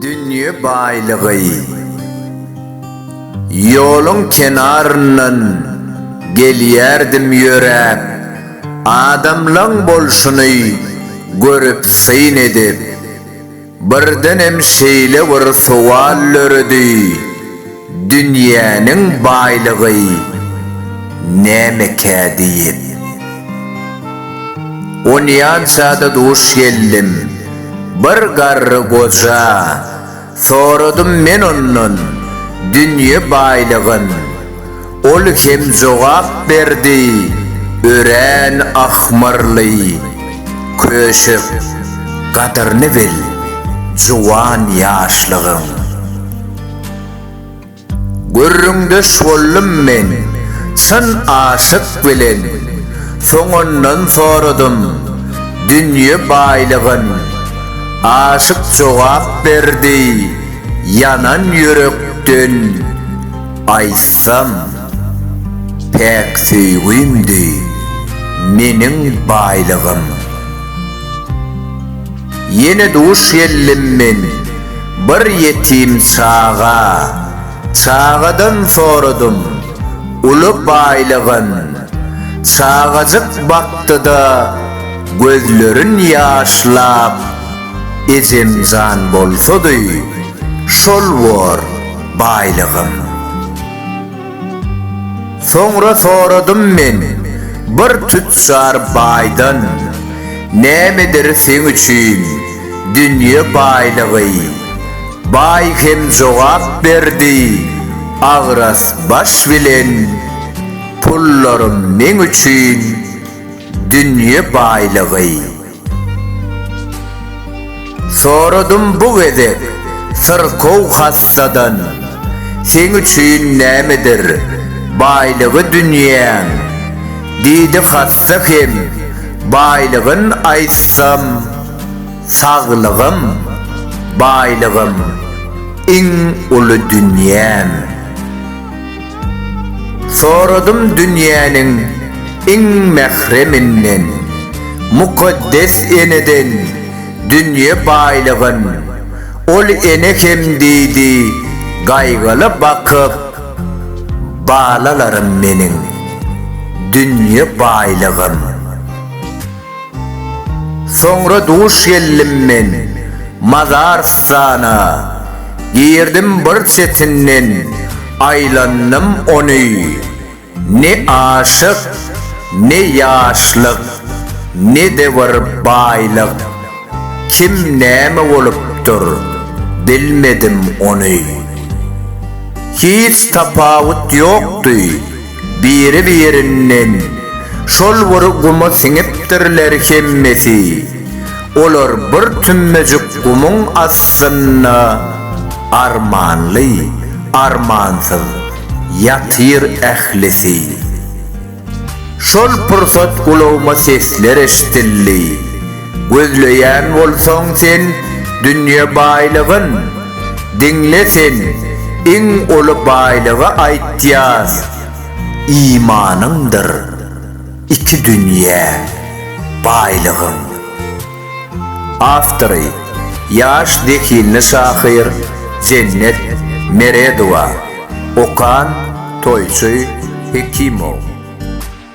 Dünýe baýlygy Ýoluň kenaryndan gelýärdim ýöräp, Adamlaň bolşuny görüp syn edip. Birdenem şeýle bir sowal döredi, Dünýäniň baýlygy nämekä diýip. Onýança-da duş geldim. Bir garry goja. Soradym men ondan, Dünýe baýlygyn. Ol hem jogap berdi, Örän ahmyrly, köşek, gadyryny bil, juwan ýaşlygyň. Gürrüňdeş boldum men, çyn aşyk bilen, soňundan soradym, dünýe baýlygyn. Aşyk jogap berdi, ýanan ýürekden. Aýtsam, päk söýgimdi meniň baýlygym. Ýene duş geldim men bir ýetim çaga, Çagadan soradym uly baýlygyn. Çagajyk bakdy-da gözlerin ýaşlap. Ejemjan bolsady, şol bor baýlygym. Soňra soradym men bir tüçjar baýdan, Nämedir seň üçin dünýe baýlygy? Baý hem jogap berdi, Agras baş bilen pullarym meň üçin dünýe baýlygy. Soradym bu gezek syrkaw hassadan, Seň üçin nämedir baýlygy dünýäň? Diýdi hassa hem, Baýlygyn aýtsam, saglygym, baýlygym, iň uly dünýäm. Soradym dünýäniň iň mähreminden, Mukaddes eneden dünýe baýlygyn. Ol ene hem diýdi, Gaýgyly bakyp, balalarym meniň, dünýe baýlygym. Soňra duş geldim men Mazarystana, Girdim bir çetinden, aýlandym ony. Ne aşyk, ne ýaşlyk, ne-de bir baýlyk, Kim näme bolupdyr, bilmedim ony. Hiç tapawut ýokdy. Biri-birinden şol bir guma siňipdirler hemmesi. Olar bir tümmejik gumuň astynda armanly, armansyz ýatyr ählisi. Şol pursat gulagyma sesler eşdildi. Gözleýän bolsaň sen dünýe baýlygyn, Diňle sen, iň uly baýlygy aýtýas, Imanyňdyr iki dünýe baýlygyň. Awtory, ýaş zehinli şahyr Jennet Meredowa, okan, toýçy Hekimow.